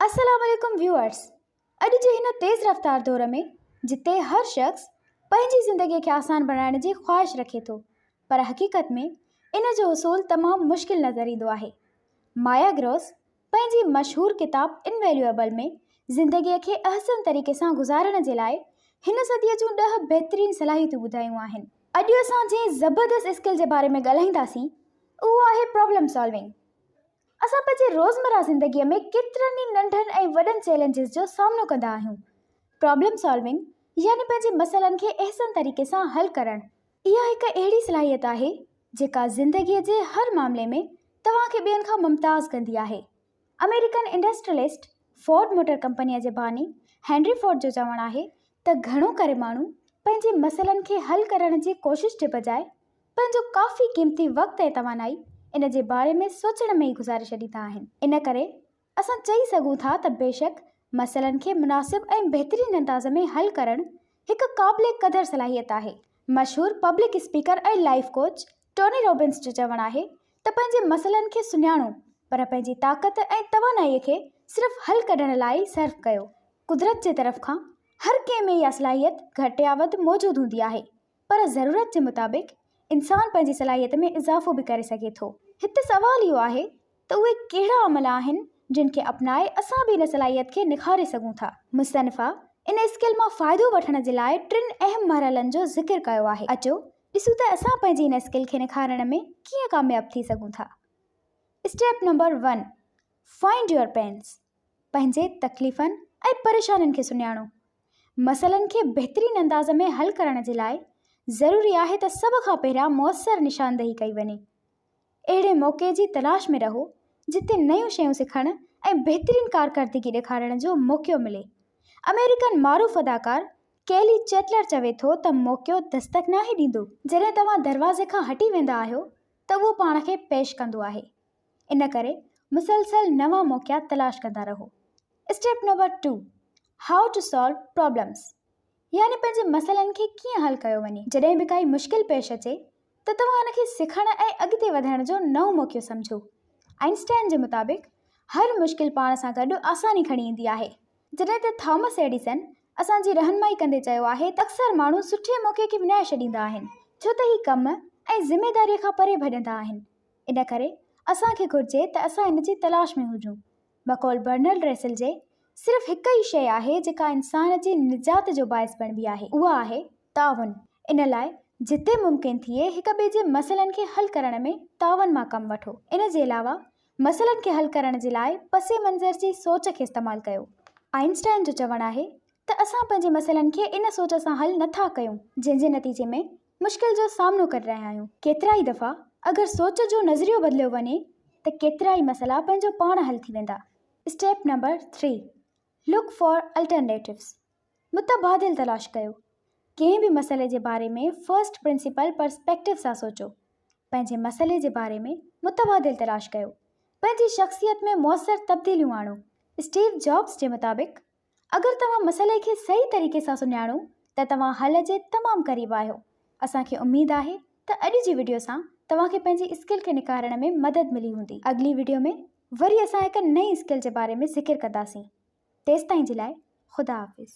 السلام عليڪم ويوئرس اڄ جي هن تيز رفتار دور ۾ جتي هر شخص پنهنجي زندگي کي آسان بڻائڻ جي خواهش رکي ٿو پر حقيقت ۾ ان جو حصول تمام مشڪل نظر ايندو آهي مايا گروس پنهنجي مشهور ڪتاب Invaluable ۾ زندگي کي احسن طريقي سان گذارڻ جي لاء هن صدي جون ڏهه بهترين صلاحيتون ٻڌايون آهن. اڄ اسان جنهن زبردست اسڪل جي باري ۾ ڳالهائينداسين اهو آهي پرابلم سالونگ. اسان پنهنجي روزمره زندگي ۾ ڪيترن ئي ننڍن ۽ وڏن چئلينجز جو سامنو ڪندا آهيون. پرابلم سالونگ يعني پنهنجي مسئلن کي احسن طريقي سان حل ڪرڻ اها هڪ اهڙي صلاحيت آهي جيڪا زندگي جي هر معاملي ۾ توهان کي ٻين کان ممتاز ڪندي آهي. آمريڪن انڊسٽريلسٽ فورڊ موٽر ڪمپنيء جي باني هينري فورڊ جو چوڻ آهي ته گهڻو ڪري ماڻهو پنهنجي مسئلن کي حل ڪرڻ جي ڪوشش جي بجاء پنهنجو ڪافي قيمتي وقت ۽ توانائي ان جي باري ۾ سوچڻ ۾ ئي گذاري ڇڏي ٿا آهن. ان ڪري اسان چئي سگهون ٿا ته بيشڪ مسئلن کي مناسب ۽ بهترين انداز ۾ حل ڪرڻ هڪ قابل قدر صلاحيت آهي. مشهور public speaker ۽ life coach Tony Robbins جو چوڻ آهي ته پنهنجي مسئلن کي سڃاڻو پر پنهنجي طاقت ۽ توانائي کي صرف حل ڪڍڻ لاء ئي صرف ڪيو. قدرت جي طرف کان هر ڪنهن ۾ اها صلاحيت گهٽ يا وڌ موجود هوندي آهي پر ضرورت جي مطابق انسان پنهنجي صلاحيت ۾ اضافو به ڪري سگهي ٿو. هت سوال اهو آهي ته اهي ڪهڙا عمل آهن جن کي اپنائي اسان به ان صلاحيت کي نکاري سگهون ٿا. مصنفه ان اسڪل مان فائدو وٺڻ جي لاء ٽن اهم مرحلن جو ذڪر ڪيو آهي. اچو ڏسون ته اسان پنهنجي ان اسڪل کي نکارڻ ۾ ڪيئن ڪامياب ٿي سگهون ٿا. Step number one, Find Your Pains پنهنجي تڪليفن ۽ پريشانين کي سڃاڻو. مسئلن کي بهترين انداز ۾ حل ڪرڻ جي لاء ضروري آهي ته سڀ کان پهريان موثر نشاندهي ڪئي وڃي. اهڙي موقعي جي تلاش ۾ رهو جتي نيون شيون سکڻ ۽ بهترين ڪارڪردگي ڏيکارڻ جو موقعو ملي. آمريڪن معروف اداڪار ڪيلي چيٽلر چوي ٿو ته موقعو دستڪ ناهي ڏيندو. جڏهن توهان دروازي کان هٽي ويندا آهيو ته اهو پاڻ کي پيش ڪندو آهي. ان ڪري مسلسل نوان موقعا تلاش ڪندا رهو. Step number two, how to solve problems يعني پنهنجي مسئلن کي ڪيئن حل ڪيو وڃي. جڏهن به ڪائي مشڪل پيش اچي ته توهان ان کي سکڻ ۽ اڳتي وڌڻ جو نئون موقعو سمجهو. آئنسٽائن جي مطابق هر مشڪل پاڻ سان گڏ آساني کڻي ايندي آهي. جڏهن ته ٿامس ايڊيسن اسان جي رهنمائي ڪندي چيو آهي ته اڪثر ماڻهو سٺي موقعي کي وڃائي ڇڏيندا آهن ڇو ته هي ڪم ۽ ذميداريء کان پري ڀڄندا آهن ان ڪري اسان کي گهرجي ته اسان ان جي تلاش ۾ هجون. بقول برنرڊ ريسل جي، صرف هڪ ئي شيء آهي جيڪا انسان جي نجات جو باعث بڻبي آهي، اها آهي تعاون. ان لاء جتي ممڪن ٿئي هڪ ٻئي جي مسئلن کي حل ڪرڻ ۾ تعاون مان ڪم وٺو. ان جي علاوه مسئلن کي حل ڪرڻ جي لاء پس منظر جي سوچ کي استعمال ڪيو. آئنسٽائن جو چوڻ آهي ته اسان پنهنجي مسئلن کي ان سوچ سان حل نٿا ڪيون جنهن جي نتيجي ۾ مشڪل جو سامنو ڪري رهيا آهيون. ڪيترائي دفعا اگر سوچ جو نظريو بدليو وڃي ته ڪيترائي مسئلا پنهنجو پاڻ حل ٿي ويندا. Step number three, look for alternatives, متبادل تلاش ڪيو. ڪنهن به مسئلي جي باري ۾ فرسٽ پرنسپل پرسپيڪٽو سان سوچو. پنهنجي مسئلي جي باري ۾ متبادل تلاش ڪيو. پنهنجي شخصيت ۾ موثر تبديليون آڻو. اسٽيو جابز جي مطابق اگر توهان مسئلي کي صحيح طريقي سان سڃاڻو ته توهان حل جي تمام قريب آهيو. اسان کي اميد آهي ته اڄ جي وڊيو سان توهان کي پنهنجي اسڪل کي نکارڻ ۾ مدد ملي هوندي. اڳلي وڊيو ۾ وري اسان هڪ نئين اسڪل جي باري ۾ ذڪر ڪنداسين. تيستائين جي لاء خدا حافظ.